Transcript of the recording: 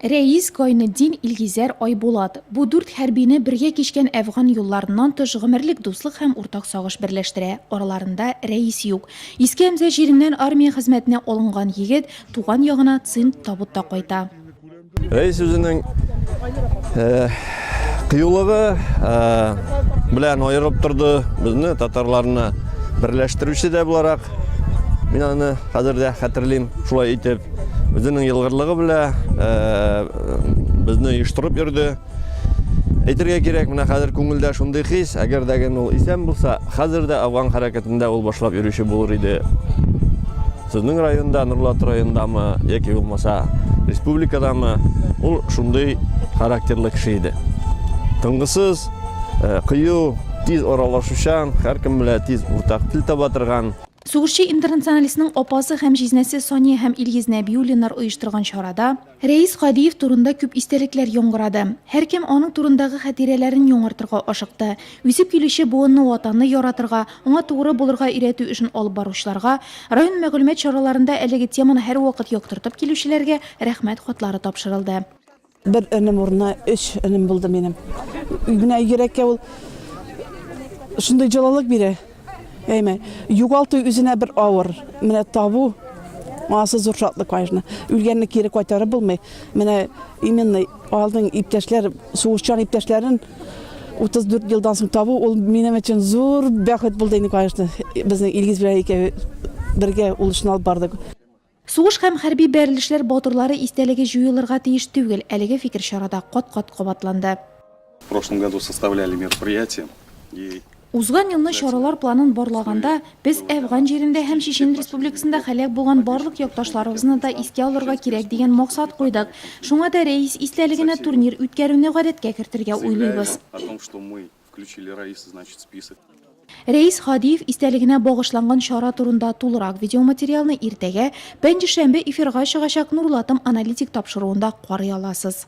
Рәис, Гайнетдин, Илгизәр, Айбулат, бу дүрт хәрбине бергә кичкән әфган юлларыннан тыш гомерлек дуслык һәм уртак сагыш берләштерә. Араларында Рәис юк. Иске Әмзә җиреннән армия хезмәтенә алынган егет туган ягына цинт табутта кайта. Рәис үзенең кыюлыгы белән аерып торды безне, татарларны берләштерүче дә буларак. Мин аны хәзер дә хәтерлим. Шулай итеп, үзенең елгырлыгы белән безне оештырып йөрде. Әйтергә кирәк, менә хәзер күңелдә шундый хис, әгәр дә гел ул исән булса, хәзер дә Афган хәрәкәтендә ул башлап йөрүче булыр иде. Сезнең районда, Нурлат райондамы, яки булмаса республикадамы, ул шундый характерлы кеше иде. Тынгысыз, Э, кыю, тиз аралашучан, һәркем белән тиз уртак тел таба торган. Сугышчы интернационалистның апасы һәм җизнәсе Сания һәм Илгиз Нәбиуллиннар оештырган чарада Рәис Кадиев турында күп истәлекләр яңгырады. Һәркем аның турындагы хатирәләрен яңартырга ашыкты. Үсеп килүче буынны ватанны яратырга, аңа тугры булырга өйрәтү эшен алып баручыларга, район мәгълүмат чараларында әлеге теманы һәрвакыт яктыртып килүчеләргә рәхмәт хатлары тапшырылды. Бер энем урынына өч энем булды минем. Менә йөрәккә ул шундый җылылык бирә. Әйме, югалту үзенә бер авыр. Менә табу Асы зур шатлык, конечно. Үлгәнне кире кайтарып булмый. Менә именно алдың иптәшләр, сугышчан иптәшләрен 34 елдан соң табу, ул минем өчен зур бәхет булды инде, конечно. Безнең Илгиз белән икәү бергә ул эшне алып бардык. Сугыш һәм хәрби бәрелешләр батырлары истәлеге җуелырга тиеш түгел, әлеге фикер чарада кат-кат кабатланды. В прошлом году составляли мероприятия и. Узган елны чаралар планын барлаганда, без Әфган җирендә һәм Чечен Республикасында һәлак булган барлык якташларыбызны да искә алырга кирәк дигән максат куйдык. Шуңа да Рәис истәлегенә турнир үткәрүне гадәткә кертергә уйлыйбыз. Включили Раиса, значит, список. Рәис Хадиев истәлегенә багышланган чара турында тулырак видеоматериалны иртәгә, пәнҗешәмбе эфирга чыгачак Нурлатым аналитик тапшыруында карый аласыз.